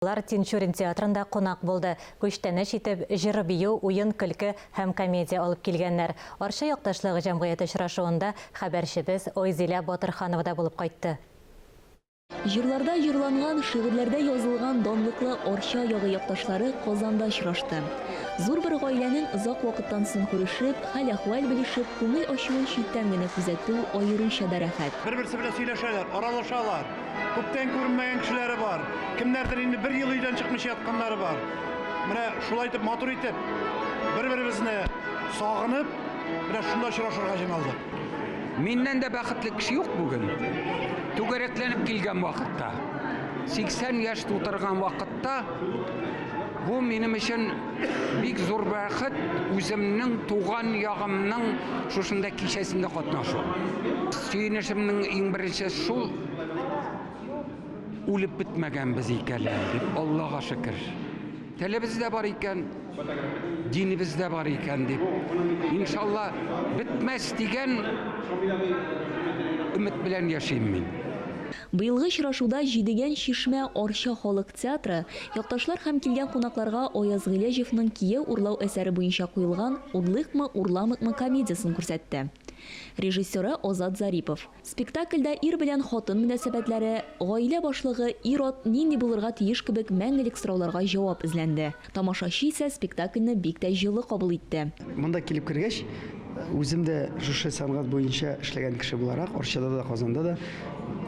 Алар Тинчурин театрында кунак булды, күчтәнәч итеп, җыр-бию, уен-көлке һәм комедия алып килгәннәр. Арча якташлык җәмгыяте очрашуында хәбәрчебез Айзилә Батырханова да булып кайтты. Җырларда җырланган, шигырьләрдә язылган данлыклы Арча ягы якташлары Казанда очрашты. Зур бер гаиләнең озак вакыттан соң күрешеп, хәл-әхвәл белешеп, күңел ачуын читтән генә күзәтү аеруча да рәхәт. Бер-берсе белән сөйләшәләр, аралашалар. Күптән күренмәгән кешеләре бар. Кемнәрдер инде бер ел өйдән чыкмыйча ятканнары бар. Менә шулай итеп матур итеп бер-беребезне сагынып, менә шунда очрашырга җыйналдык. Миннән дә бәхетле кеше юк бүген. Түгәрәкләнеп килгән вакытта, 80 яшь тутырган вакытта бу минем өчен Бик зур бәхет үземнең туган ягымның шушында кичәсендә катнашу. Сөенешемнең иң беренче шул үлеп бетмәгәнбез икән әле, Аллага шөкер. Телебез дә бар икән, динебез дә бар икән дип. Иншалла, бетмәс дигән өмет белән яшим мин. Быелгы очрашуда Җидегән чишмә Арча халык Театры, якташлар һәм килгән кунакларга Аяз Гыйләҗевның Кияү урлау әсәре буенча куелган Урлыйкмы, урламыйкмы комедиясен күрсәтте. Режиссеры, Азат Зарипов. Спектакльдә ир белән хатын мөнәсәбәтләре, гаилә башлыгы, ир-ат нинди булырга тиеш кебек мәңгелек сорауларга җавап эзләнде. Тамашачы исә спектакльне бик тә җылы кабул итте. Монда килеп кергәч, үзем дә шушы сәнгать буенча эшләгән кеше буларак, Арчада да, Казанда да,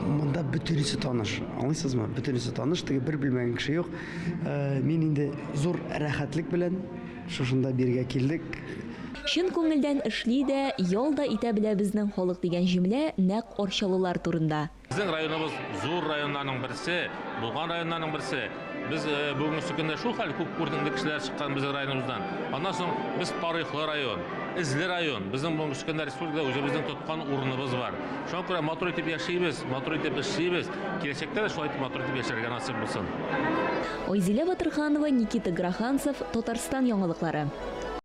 монда бөтенесе таныш. Аңлыйсызмы? Бөтенесе таныш, теге бер белмәгән кеше юк. Мин инде зур рәхәтлек белән шушында бирегә килдек. Чын күңелдән эшли дә, ял да итә белә безнең халык дигән җөмлә нәкъ арчалылар турында. Безнең районыбыз зур районнарның берсе, булган районнарның берсе. Без э, бүгенге көндә шул хәл күп күренекле кешеләр чыккан безнең районыбыздан. Аннан соң без тарихлы район, эзле район. Безнең бүгенге көндә республикада үзебезнең тоткан урыныбыз бар. Шуңа күрә матур итеп яшибез, матур итеп эшлибез. Киләчәктә дә шулай итеп матур итеп яшәргә насыйп булсын. Айзилә Батырханова, Никита Гроханцев, Татарстан яңалыклары.